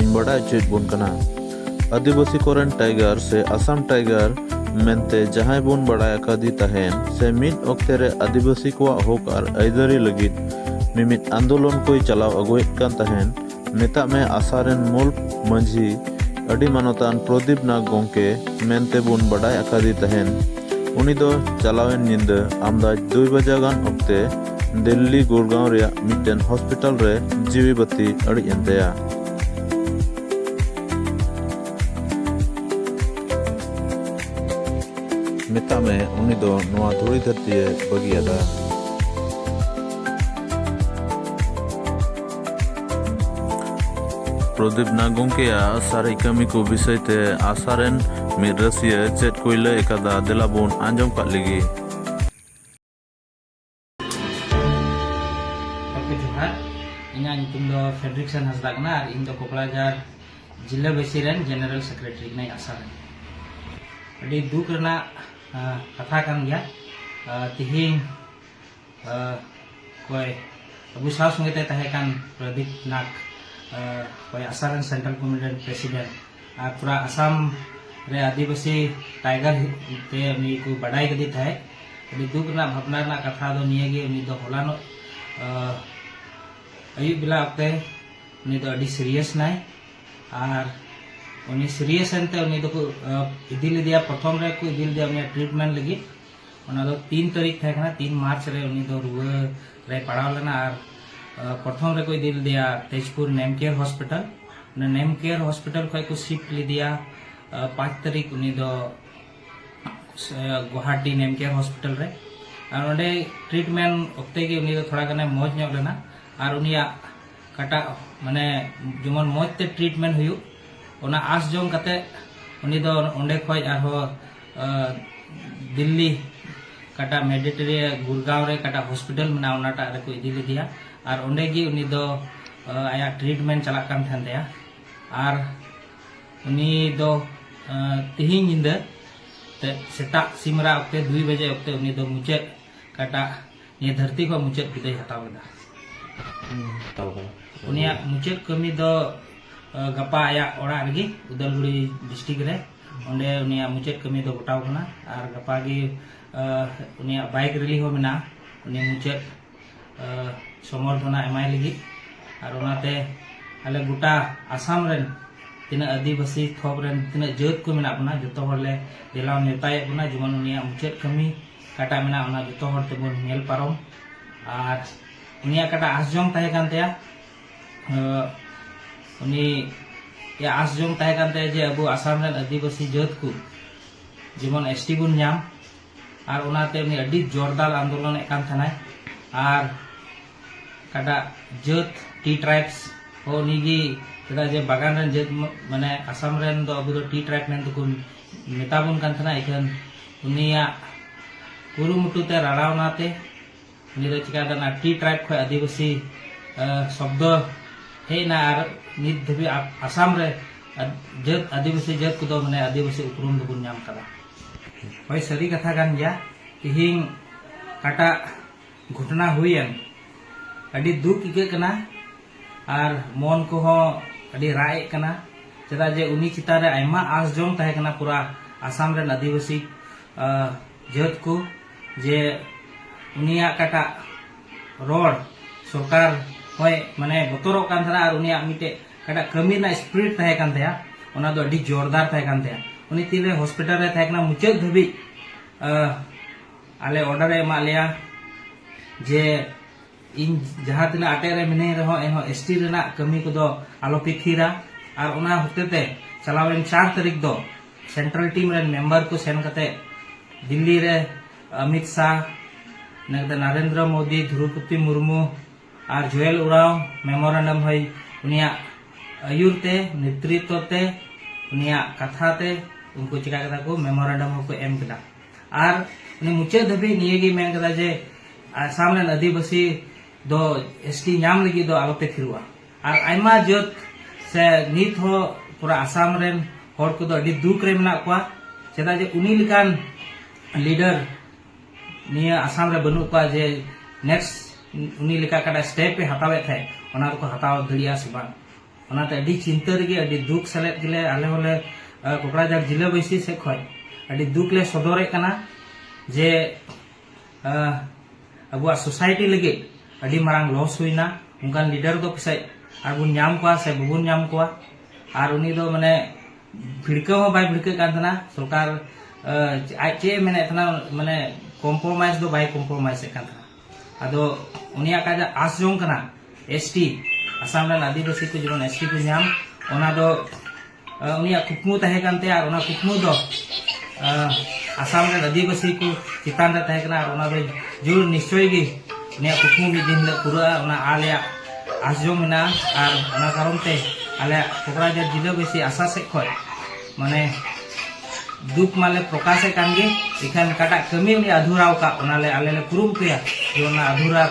ᱤᱧ ᱵᱟᱰᱟᱭ ᱦᱚᱪᱚᱭᱮᱫ ᱵᱚᱱ ᱠᱟᱱᱟ ᱟᱹᱫᱤᱵᱟᱹᱥᱤ ᱠᱚᱨᱮᱱ ᱴᱟᱭᱜᱟᱨ ᱥᱮ ᱟᱥᱟᱢ ᱴᱟᱭᱜᱟᱨ ᱢᱮᱱᱛᱮ ᱡᱟᱦᱟᱸᱭ ᱵᱚᱱ ᱵᱟᱲᱟᱭ ᱟᱠᱟᱫᱮ ᱛᱟᱦᱮᱱ ᱥᱮ ᱢᱤᱫ ᱚᱠᱛᱮ ᱨᱮ ᱟᱹᱫᱤᱵᱟᱹᱥᱤ ᱠᱚᱣᱟᱜ ᱦᱚᱠ ᱟᱨ ᱟᱹᱭᱫᱟᱹᱨᱤ ᱞᱟᱹᱜᱤᱫ ᱢᱤᱢᱤᱫ ᱟᱱᱫᱳᱞᱚᱱ ᱠᱚᱭ ᱪᱟᱞᱟᱣ ᱟᱹᱜᱩᱭᱮᱫ ᱠᱟᱱ ᱛᱟᱦᱮᱱ ᱢᱮᱛᱟᱜ ᱢᱮ ᱟᱥᱟ ᱨᱮᱱ ᱢᱩᱞ ᱢᱟᱹᱡᱷᱤ ᱟᱹᱰᱤ ᱢᱟᱱᱚᱛᱟᱱ ᱯᱨᱚᱫᱤᱯ ᱱᱟᱜᱽ ᱜᱚᱢᱠᱮ ᱢᱮᱱᱛᱮ ᱵᱚᱱ ᱵᱟᱰᱟᱭ ᱟᱠᱟᱫᱮ ᱛᱟᱦᱮᱱ ᱩᱱᱤ ᱫᱚ ᱪᱟᱞᱟᱣᱮᱱ ᱧᱤᱫᱟᱹ ᱟᱢᱫᱟᱡᱽ ᱫᱩᱭ ᱵᱟᱡᱟ ᱜᱟᱱ ᱚᱠᱛᱮ ᱫᱤᱞᱞᱤ ᱜᱩᱨᱜᱟᱸᱣ ᱨᱮᱭᱟᱜ ᱢᱤᱫᱴᱮᱱ ᱦᱚᱥᱯᱤᱴᱟᱞ ᱨᱮ ᱡᱤᱣᱤ ᱵᱟᱹᱛᱤ ᱟᱹᱲᱤᱡ ᱮᱱ ᱛᱟᱭᱟ ᱢᱮᱛᱟᱜ ᱢᱮ ᱩᱱᱤ ᱫᱚ ᱱᱚᱣᱟ ᱫᱷᱩᱲᱤ ᱫᱷᱟᱹᱨᱛᱤᱭᱮ ᱵᱟᱹᱜᱤᱭᱟᱫᱟ ᱯᱨᱚᱫᱤᱯ ᱱᱟᱜ ᱜᱚᱢᱠᱮᱭᱟᱜ ᱥᱟᱨᱮᱡ ᱠᱟᱹᱢᱤ ᱠᱚ ᱵᱤᱥᱚᱭ ᱛᱮ ᱟᱥᱟ ᱨᱮᱱ ᱢᱤᱫ ᱨᱟᱹᱥᱤᱭᱟᱹ ᱪᱮᱫ ᱠᱚᱭ ᱞᱟᱹᱭ ᱟᱠᱟᱫᱟ ᱫᱮᱞᱟ ᱵᱚᱱ ᱟᱸᱡᱚᱢ ᱠᱟᱜ ᱞᱮᱜᱮ ᱤᱧᱟᱹᱜ ᱧᱩᱛᱩᱢ ᱫᱚ ᱯᱷᱮᱰᱨᱤᱠᱥᱚᱱ ᱦᱟᱸᱥᱫᱟ ᱠᱟᱱᱟ ᱟᱨ ᱤᱧ ᱫᱚ ᱠᱚᱠᱲᱟᱡᱟᱨ ᱡᱤᱞᱟᱹ ᱵᱟᱹᱥᱤ ᱨᱮᱱ ᱡᱮᱱᱟᱨᱮᱞ ᱥᱮᱠᱨᱮᱴᱟᱨᱤ ᱠᱟᱹᱱᱟᱹᱧ ᱟᱥᱟ ᱨᱮ ᱟᱹᱰᱤ ᱫᱩᱠ ᱨᱮᱱᱟᱜ ᱠᱟᱛᱷᱟ ᱠᱟᱱ ᱜᱮᱭᱟ ᱛᱤᱦᱤᱧ ᱚᱠᱚᱭ ᱟᱵᱚ ᱥᱟᱶ ᱥᱚᱸᱜᱮ ᱛᱮ ᱛᱟᱦᱮᱸ ᱠᱟᱱ ᱯᱨᱚᱫᱤᱯ ᱱᱟᱜᱽ ᱚᱠᱚᱭ ᱟᱥᱟ ᱨᱮᱱ ᱥᱮᱱᱴᱨᱟᱞ ᱠᱚᱢᱤᱴᱤ ᱨᱮᱱ ᱯᱨᱮᱥᱤᱰᱮᱱᱴ ᱟᱨ ᱯᱩᱨᱟ ᱟᱥᱟᱢ ᱨᱮ ᱟᱹᱫᱤᱵᱟᱹᱥᱤ ᱴᱟᱭᱜᱟᱨ ᱛᱮ ᱩᱱᱤ ᱠᱚ ᱵᱟᱰᱟᱭ ᱠᱮᱫᱮ ᱛᱟᱦᱮᱸᱫ ᱟᱹᱰᱤ ᱫᱩᱠ ᱨᱮᱱᱟᱜ ᱵᱷᱟᱵᱽᱱᱟ ᱨᱮᱱᱟᱜ ᱠᱟᱛᱷᱟ ᱫᱚ ᱱᱤᱭᱟᱹ ᱜᱮ ᱩᱱᱤ ᱫᱚ ᱦᱚᱞᱟᱱᱚᱜ ᱟᱹᱭᱩᱵ ᱵᱮᱞᱟ ᱚᱠᱛᱮ ᱩᱱᱤ ᱫᱚ ᱟᱹᱰᱤ ᱥᱤᱨᱤᱭᱟᱥ ᱱᱟᱭ ᱟᱨ ᱩᱱᱤ ᱥᱤᱨᱤᱭᱟᱥ ᱮᱱᱛᱮ ᱩᱱᱤ ᱫᱚᱠᱚ ᱤᱫᱤ ᱞᱮᱫᱮᱭᱟ ᱯᱨᱚᱛᱷᱚᱢ ᱨᱮᱠᱚ ᱤᱫᱤ ᱞᱮᱫᱮᱭᱟ ᱩᱱᱤᱭᱟᱜ ᱴᱨᱤᱴᱢᱮᱱᱴ ᱞᱟᱹᱜᱤᱫ ᱚᱱᱟ ᱫᱚ ᱛᱤᱱ ᱛᱟᱹᱨᱤᱠᱷ ᱛᱟᱦᱮᱸ ᱠᱟᱱᱟ ᱛᱤᱱ ᱢᱟᱨᱪ ᱨᱮ ᱩᱱᱤ ᱫᱚ ᱨᱩᱣᱟᱹ ᱨᱮᱭ ᱯᱟᱲᱟᱣ ᱞᱮᱱᱟ ᱟᱨ ᱯᱨᱚᱛᱷᱚᱢ ᱨᱮᱠᱚ ᱤᱫᱤ ᱞᱮᱫᱮᱭᱟ ᱛᱮᱡᱽᱯᱩᱨ ᱱᱮᱢ ᱠᱮᱭᱟᱨ ᱦᱚᱥᱯᱤᱴᱟᱞ ᱚᱱᱟ ᱱᱮᱢ ᱠᱮᱭᱟᱨ ᱦᱚᱥᱯᱤᱴᱟᱞ ᱠᱷᱚᱱ ᱠᱚ ᱥᱤᱯᱴ ᱞᱮᱫᱮᱭᱟ ᱯᱟᱸᱪ ᱛᱟᱹᱨᱤᱠᱷ ᱩᱱᱤ ᱫᱚ ᱜᱩᱣᱟᱦᱟᱴᱤ ᱱᱮᱢ ᱠᱮᱭᱟᱨ ᱦᱚᱥᱯᱤᱴᱟᱞ ᱨᱮ ᱟᱨ ᱚᱸᱰᱮ ᱴᱨᱤᱴᱢᱮᱱᱴ ᱚᱠᱛᱮ ᱜᱮ ᱩᱱᱤ ᱫᱚ ᱛᱷᱚᱲᱟ ᱜᱟᱱᱮ ᱢᱚᱡᱽ ᱧᱚᱜ ᱞᱮᱱᱟ ᱟᱨ ᱩᱱᱤᱭᱟᱜ ᱠᱟᱴᱟᱜ ᱢᱟᱱᱮ ᱡᱮᱢᱚᱱ ᱢᱚᱡᱽ ᱛᱮ ᱴᱨᱤᱴᱢᱮᱱᱴ ᱦᱩᱭᱩᱜ ᱚᱱᱟ ᱟᱸᱥ ᱡᱚᱝ ᱠᱟᱛᱮ ᱩᱱᱤ ᱫᱚ ᱚᱸᱰᱮ ᱠᱷᱚᱱ ᱟᱨᱦᱚᱸ ᱫᱤᱞᱞᱤ ᱠᱟᱴᱟ ᱢᱮᱰᱤᱴᱮᱨᱤ ᱜᱩᱨᱜᱟᱸᱣ ᱨᱮ ᱠᱟᱴᱟ ᱦᱚᱥᱯᱤᱴᱟᱞ ᱢᱮᱱᱟᱜᱼᱟ ᱚᱱᱟᱴᱟᱜ ᱨᱮᱠᱚ ᱤᱫᱤ ᱞᱮᱫᱮᱭᱟ ᱟᱨ ᱚᱸᱰᱮ ᱜᱮ ᱩᱱᱤ ᱫᱚ ᱟᱭᱟᱜ ᱴᱨᱤᱴᱢᱮᱱᱴ ᱪᱟᱞᱟᱜ ᱠᱟᱱ ᱛᱟᱦᱮᱱ ᱛᱟᱭᱟ ᱟᱨ ᱩᱱᱤ ᱫᱚ ᱛᱤᱦᱤᱧ ᱧᱤᱫᱟᱹ ᱛᱮ ᱥᱮᱛᱟᱜ ᱥᱤᱢᱨᱟ ᱚᱠᱛᱮ ᱫᱩᱭ ᱵᱟᱡᱮ ᱚᱠᱛᱮ ᱩᱱᱤ ᱫᱚ ᱢᱩᱪᱟᱹᱫ ᱠᱟᱴᱟ ᱱᱤᱭᱟᱹ ᱫᱷᱟᱹᱨᱛᱤ ᱠᱷᱚᱱ ᱢᱩᱪᱟᱹᱫ ᱵᱤᱫᱟᱹᱭ ᱦᱟᱛᱟᱣ ᱠᱮᱫᱟ ᱩᱱᱤᱭᱟᱜ ᱢᱩᱪᱟᱹᱫ ᱠᱟᱹᱢᱤ ᱫᱚ ᱜᱟᱯᱟ ᱟᱭᱟᱜ ᱚᱲᱟᱜ ᱨᱮᱜᱮ ᱩᱫᱟᱞᱜᱩᱲᱤ ᱰᱤᱥᱴᱨᱤᱠᱴ ᱨᱮ ᱚᱸᱰᱮ ᱩᱱᱤᱭᱟᱜ ᱢᱩᱪᱟᱹᱫ ᱠᱟᱹᱢᱤ ᱫᱚ ᱜᱚᱴᱟᱣ ᱠᱟᱱᱟ ᱟᱨ ᱜᱟᱯᱟ ᱜᱮ ᱩᱱᱤᱭᱟᱜ ᱵᱟᱭᱤᱠ ᱨᱮᱞᱤ ᱦᱚᱸ ᱢᱮᱱᱟᱜᱼᱟ ᱩᱱᱤ ᱢᱩᱪᱟᱹᱫ ᱥᱚᱢᱚᱨᱫᱷᱚᱱᱟ ᱮᱢᱟᱭ ᱞᱟᱹᱜᱤᱫ ᱟᱨ ᱚᱱᱟᱛᱮ ᱟᱞᱮ ᱜᱚᱴᱟ ᱟᱥᱟᱢ ᱨᱮᱱ ᱛᱤᱱᱟᱹᱜ ᱟᱹᱫᱤᱵᱟᱹᱥᱤ ᱛᱷᱚᱠ ᱨᱮᱱ ᱛᱤᱱᱟᱹᱜ ᱡᱟᱹᱛ ᱠᱚ ᱢᱮᱱᱟᱜ ᱵᱚᱱᱟ ᱡᱚᱛᱚ ᱦᱚᱲ ᱞᱮ ᱫᱮᱞᱟ ᱱᱮᱣᱛᱟᱭᱮᱫ ᱵᱚᱱᱟ ᱡᱮᱢᱚᱱ ᱩᱱᱤᱭᱟᱜ ᱢᱩᱪᱟᱹᱫ ᱠᱟᱹᱢᱤ ᱚᱠᱟᱴᱟᱜ ᱢᱮᱱᱟᱜᱼᱟ ᱚᱱᱟ ᱡᱚᱛᱚ ᱦᱚᱲ ᱛᱮᱵᱚᱱ ᱧᱮᱞ ᱯᱟᱨᱚᱢ ᱟᱨ ᱩᱱᱤᱭᱟᱜ ᱚᱠᱟᱴᱟᱜ ᱟᱸᱥ ᱡᱚᱝ ᱛᱟᱦᱮᱸ ᱠᱟᱱ ᱛᱟᱭᱟ ᱩᱱᱤ ᱟᱥ ᱡᱚᱝ ᱛᱟᱦᱮᱸ ᱠᱟᱱ ᱛᱟᱭᱟ ᱡᱮ ᱟᱵᱚ ᱟᱥᱟᱢ ᱨᱮᱱ ᱟᱹᱫᱤᱵᱟᱹᱥᱤ ᱡᱟᱹᱛ ᱠᱚ ᱡᱮᱢᱚᱱ ᱮᱥ ᱴᱤ ᱵᱚᱱ ᱧᱟᱢ ᱟᱨ ᱚᱱᱟᱛᱮ ᱩᱱᱤ ᱟᱹᱰᱤ ᱡᱳᱨᱫᱟᱨ ᱟᱱᱫᱳᱞᱚᱱᱮᱫ ᱠᱟᱱ ᱛᱟᱦᱮᱱᱟᱭ ᱟᱨ ᱚᱠᱟᱴᱟᱜ ᱡᱟᱹᱛ ᱴᱤ ᱴᱨᱟᱭᱵᱽᱥ ᱦᱚᱸ ᱩᱱᱤᱜᱮ ᱪᱮᱫᱟᱜ ᱡᱮ ᱵᱟᱜᱟᱱ ᱨᱮᱱ ᱡᱟᱹᱛ ᱢᱟᱱᱮ ᱟᱥᱟᱢ ᱨᱮᱱ ᱫᱚ ᱟᱵᱚ ᱫᱚ ᱴᱤ ᱴᱨᱟᱭᱵᱽ ᱢᱮᱱ ᱛᱮᱠᱚ ᱢᱮᱛᱟ ᱵᱚᱱ ᱠᱟᱱ ᱛᱟᱦᱮᱱᱟ ᱤᱠᱷᱟᱹᱱ ᱩᱱᱤᱭᱟᱜ ᱠᱩᱨᱩᱢᱩᱴᱩ ᱛᱮ ᱨᱟᱲᱟᱣᱱᱟ ᱛᱮ ᱩᱱᱤ ᱫᱚ ᱪᱤᱠᱟᱹ ᱫᱟᱱᱟ ᱴᱤ ᱴᱨᱟᱭᱤᱵᱽ ᱠᱷᱚᱱ ᱟᱹᱫᱤᱵᱟᱹᱥᱤ ᱥᱚᱵᱫᱚ ᱦᱮᱡ ᱮᱱᱟ ᱟᱨ ᱱᱤᱛ ᱫᱷᱟᱹᱵᱤᱡ ᱟᱥᱟᱢ ᱨᱮ ᱡᱟᱹᱛ ᱟᱹᱫᱤᱵᱟᱹᱥᱤ ᱡᱟᱹᱛ ᱠᱚᱫᱚ ᱢᱟᱱᱮ ᱟᱹᱫᱤᱵᱟᱹᱥᱤ ᱩᱯᱨᱩᱢ ᱫᱚᱵᱚᱱ ᱧᱟᱢ ᱠᱟᱫᱟ ᱦᱳᱭ ᱥᱟᱹᱨᱤ ᱠᱟᱛᱷᱟ ᱠᱟᱱ ᱜᱮᱭᱟ ᱛᱮᱦᱮᱧ ᱚᱠᱟᱴᱟᱜ ᱜᱷᱚᱴᱚᱱᱟ ᱦᱩᱭᱮᱱ ᱟᱹᱰᱤ ᱫᱩᱠ ᱟᱹᱭᱠᱟᱹᱜ ᱠᱟᱱᱟ ᱟᱨ ᱢᱚᱱ ᱠᱚᱦᱚᱸ ᱟᱹᱰᱤ ᱨᱟᱜ ᱮᱫ ᱠᱟᱱᱟ ᱪᱮᱫᱟᱜ ᱡᱮ ᱩᱱᱤ ᱪᱮᱛᱟᱱ ᱨᱮ ᱟᱭᱢᱟ ᱟᱸᱥ ᱡᱚᱢ ᱛᱟᱦᱮᱸ ᱠᱟᱱᱟ ᱯᱩᱨᱟ ᱟᱥᱟᱢ ᱨᱮᱱ ᱟᱹᱫᱤᱵᱟᱹᱥᱤ ᱡᱟᱹᱛ ᱠᱚ ᱡᱮ ᱩᱱᱤᱭᱟᱜ ᱚᱠᱟᱴᱟᱜ ᱨᱚᱲ ᱥᱚᱨᱠᱟᱨ ᱦᱚᱸᱭ ᱢᱟᱱᱮ ᱵᱚᱛᱚᱨᱚᱜ ᱠᱟᱱ ᱛᱟᱦᱮᱱᱟ ᱟᱨ ᱩᱱᱤᱭᱟᱜ ᱢᱤᱫᱴᱮᱡ ᱚᱠᱟᱴᱟᱜ ᱠᱟᱹᱢᱤ ᱨᱮᱱᱟᱜ ᱥᱯᱤᱨᱤᱴ ᱛᱟᱦᱮᱸ ᱠᱟᱱ ᱛᱟᱭᱟ ᱚᱱᱟ ᱫᱚ ᱟᱹᱰᱤ ᱡᱳᱨᱫᱟᱨ ᱛᱟᱦᱮᱸ ᱠᱟᱱ ᱛᱟᱭᱟ ᱩᱱᱤ ᱛᱤᱱᱨᱮ ᱦᱚᱥᱯᱤᱴᱟᱞ ᱨᱮ ᱛᱟᱦᱮᱸ ᱠᱟᱱᱟ ᱢᱩᱪᱟᱹᱫ ᱫᱷᱟᱹᱵᱤᱡ ᱟᱞᱮ ᱚᱰᱟᱨ ᱮ ᱮᱢᱟᱜ ᱞᱮᱭᱟ ᱡᱮ ᱤᱧ ᱡᱟᱦᱟᱸ ᱛᱤᱱᱟᱹᱜ ᱟᱴᱮᱫ ᱨᱮ ᱢᱤᱱᱟᱹᱧ ᱨᱮᱦᱚᱸ ᱮᱱᱦᱚᱸ ᱮᱥ ᱴᱤ ᱨᱮᱱᱟᱜ ᱠᱟᱹᱢᱤ ᱠᱚᱫᱚ ᱟᱞᱚᱯᱮ ᱛᱷᱤᱨᱟ ᱟᱨ ᱚᱱᱟ ᱦᱚᱛᱮᱛᱮ ᱪᱟᱞᱟᱣᱮᱱ ᱪᱟᱨ ᱛᱟᱹᱨᱤᱠᱷ ᱫᱚ ᱥᱮᱱᱴᱨᱟᱞ ᱴᱤᱢ ᱨᱮᱱ ᱢᱮᱢᱵᱟᱨ ᱠᱚ ᱥᱮᱱ ᱠᱟᱛᱮ ᱫᱤᱞᱞᱤ ᱨᱮ ᱚᱢᱤᱛ ᱥᱟᱦ ᱱᱮᱠᱫᱟ ᱱᱟᱨᱮᱱᱫᱨᱚ ᱢᱳᱫᱤ ᱫᱷᱨᱩᱯᱚᱛᱤ ᱢᱩᱨᱢᱩ ᱟᱨ ᱡᱩᱭᱮᱞ ᱩᱨᱟᱣ ᱢᱮᱢᱳᱨᱮᱱᱰᱟᱢ ᱦᱚᱭ ᱩᱱᱤᱭᱟᱜ ᱟᱹᱭᱩᱨ ᱛᱮ ᱱᱮᱛᱨᱤᱛᱚ ᱛᱮ ᱩᱱᱤᱭᱟᱜ ᱠᱟᱛᱷᱟ ᱛᱮ ᱩᱱᱠᱩ ᱪᱤᱠᱟ ᱠᱮᱫᱟ ᱠᱚ ᱢᱮᱢᱳᱨᱮᱱᱰᱟᱢ ᱦᱚᱸᱠᱚ ᱮᱢ ᱠᱮᱫᱟ ᱟᱨ ᱩᱱᱤ ᱢᱩᱪᱟᱹᱫ ᱫᱷᱟᱹᱵᱤᱡ ᱱᱤᱭᱟᱹ ᱜᱮ ᱢᱮᱱ ᱠᱮᱫᱟ ᱡᱮ ᱟᱥᱟᱢ ᱨᱮᱱ ᱟᱹᱫᱤᱵᱟᱹᱥᱤ ᱫᱚ ᱮᱥᱴᱤ ᱧᱟᱢ ᱞᱟᱹᱜᱤᱫ ᱫᱚ ᱟᱞᱚᱯᱮ ᱛᱷᱤᱨᱚᱜᱼᱟ ᱟᱨ ᱟᱭᱢᱟ ᱡᱟᱹᱛ ᱥᱮ ᱱᱤᱛ ᱦᱚᱸ ᱯᱩᱨᱟᱹ ᱟᱥᱟᱢ ᱨᱮᱱ ᱦᱚᱲ ᱠᱚᱫᱚ ᱟᱹᱰᱤ ᱫᱩᱠ ᱨᱮ ᱢᱮᱱᱟᱜ ᱠᱚᱣᱟ ᱪᱮᱫᱟᱜ ᱡᱮ ᱩᱱᱤ ᱞᱮᱠᱟᱱ ᱞᱤᱰᱟᱨ ᱱᱤᱭᱟᱹ ᱟᱥᱟᱢ ᱨᱮ ᱵᱟᱹᱱᱩᱜ ᱠᱚᱣᱟ ᱡᱮ ᱱᱮᱠᱥᱴ ᱩᱱᱤ ᱞᱮᱠᱟ ᱠᱟᱴᱟ ᱥᱴᱮᱯ ᱮ ᱦᱟᱛᱟᱣᱮᱫ ᱛᱟᱦᱮᱸᱫ ᱚᱱᱟ ᱫᱚᱠᱚ ᱦᱟᱛᱟᱣ ᱫᱟᱲᱮᱭᱟᱜᱼᱟ ᱥᱮ ᱵᱟᱝ ᱚᱱᱟᱛᱮ ᱟᱹᱰᱤ ᱪᱤᱱᱛᱟᱹ ᱨᱮᱜᱮ ᱟᱹᱰᱤ ᱫᱩᱠ ᱥᱮᱞᱮᱫ ᱜᱮᱞᱮ ᱟᱞᱮ ᱦᱚᱸᱞᱮ ᱠᱚᱠᱲᱟᱡᱟᱨ ᱡᱤᱞᱟᱹ ᱵᱟᱹᱭᱥᱤ ᱥᱮᱫ ᱠᱷᱚᱱ ᱟᱹᱰᱤ ᱫᱩᱠ ᱞᱮ ᱥᱚᱫᱚᱨᱮᱫ ᱠᱟᱱᱟ ᱡᱮ ᱟᱵᱚᱣᱟᱜ ᱥᱳᱥᱟᱭᱴᱤ ᱞᱟᱹᱜᱤᱫ ᱟᱹᱰᱤ ᱢᱟᱨᱟᱝ ᱞᱚᱥ ᱦᱩᱭᱱᱟ ᱚᱱᱠᱟᱱ ᱞᱤᱰᱟᱨ ᱫᱚ ᱯᱟᱥᱮᱡ ᱟᱨ ᱵᱚᱱ ᱧᱟᱢ ᱠᱚᱣᱟ ᱥᱮ ᱵᱟᱵᱚᱱ ᱧᱟᱢ ᱠᱚᱣᱟ ᱟᱨ ᱩᱱᱤ ᱫᱚ ᱢᱟᱱᱮ ᱵᱷᱤᱲᱠᱟᱹᱣ ᱦᱚᱸ ᱵᱟᱭ ᱵᱷᱤᱲᱠᱟᱹᱜ ᱠᱟᱱ ᱛᱟᱦᱮᱱᱟ ᱥᱚᱨᱠᱟᱨ ᱟᱡ ᱪᱮᱫ ᱮ ᱢᱮᱱᱮᱫ ᱛᱟᱦᱮᱱᱟ ᱢᱟᱱᱮ ᱠᱚᱢᱯᱨᱳᱢᱟᱭᱤᱡᱽ ᱫᱚ ᱵᱟᱭ ᱠᱚᱢᱯᱨᱳᱢᱟᱭᱤᱡᱽ ᱮᱫ ᱠᱟᱱ ᱛᱟᱦᱮᱱᱟ ᱟᱫᱚ ᱩᱱᱤᱭᱟᱜ ᱠᱟᱡ ᱟᱥ ᱡᱚᱝ ᱠᱟᱱᱟ ᱮᱥ ᱴᱤ ᱟᱥᱟᱢ ᱨᱮᱱ ᱟᱹᱫᱤᱵᱟᱹᱥᱤ ᱠᱚ ᱡᱮᱢᱚᱱ ᱮᱥ ᱴᱤ ᱠᱚ ᱧᱟᱢ ᱚᱱᱟ ᱫᱚ ᱩᱱᱤᱭᱟᱜ ᱠᱩᱠᱢᱩ ᱛᱟᱦᱮᱸ ᱠᱟᱱ ᱛᱟᱭᱟ ᱟᱨ ᱚᱱᱟ ᱠᱩᱠᱢᱩ ᱫᱚ ᱟᱥᱟᱢ ᱨᱮᱱ ᱟᱹᱫᱤᱵᱟᱹᱥᱤ ᱠᱚ ᱪᱮᱛᱟᱱ ᱨᱮ ᱛᱟᱦᱮᱸ ᱠᱟᱱᱟ ᱟᱨ ᱚᱱᱟ ᱫᱚ ᱡᱳᱨ ᱱᱤᱥᱪᱚᱭ ᱜᱮ ᱩᱱᱤᱭᱟᱜ ᱠᱩᱠᱢᱩ ᱢᱤᱫ ᱫᱤᱱ ᱦᱤᱞᱳᱜ ᱯᱩᱨᱟᱹᱜᱼᱟ ᱚᱱᱟ ᱟᱞᱮᱭᱟᱜ ᱟᱥ ᱡᱚᱢ ᱢᱮᱱᱟᱜᱼᱟ ᱟᱨ ᱚᱱᱟ ᱠᱟᱨᱚᱱ ᱛᱮ ᱟᱞᱮᱭᱟᱜ ᱠᱚᱠᱨᱟᱡᱷᱟᱨ ᱡᱤᱞᱟᱹᱵᱟᱹᱥᱤ ᱟᱥᱟ ᱥᱮᱫ ᱠᱷᱚᱱ ᱢᱟᱱᱮ ᱫᱩᱠ ᱢᱟᱞᱮ ᱯᱨᱚᱠᱟᱥᱮᱫ ᱠᱟᱱ ᱜᱮ ᱮᱠᱷᱟᱱ ᱚᱠᱟᱴᱟᱜ ᱠᱟᱹᱢᱤ ᱩᱱᱤ ᱟᱫᱷᱩᱨᱟᱣ ᱟᱠᱟᱫ ᱚᱱᱟᱞᱮ ᱟᱞᱮ ᱞᱮ ᱠᱩᱨᱩᱢᱩᱴᱩᱭᱟ ᱡᱮ ᱚᱱᱟ ᱟᱫᱷᱩᱨᱟ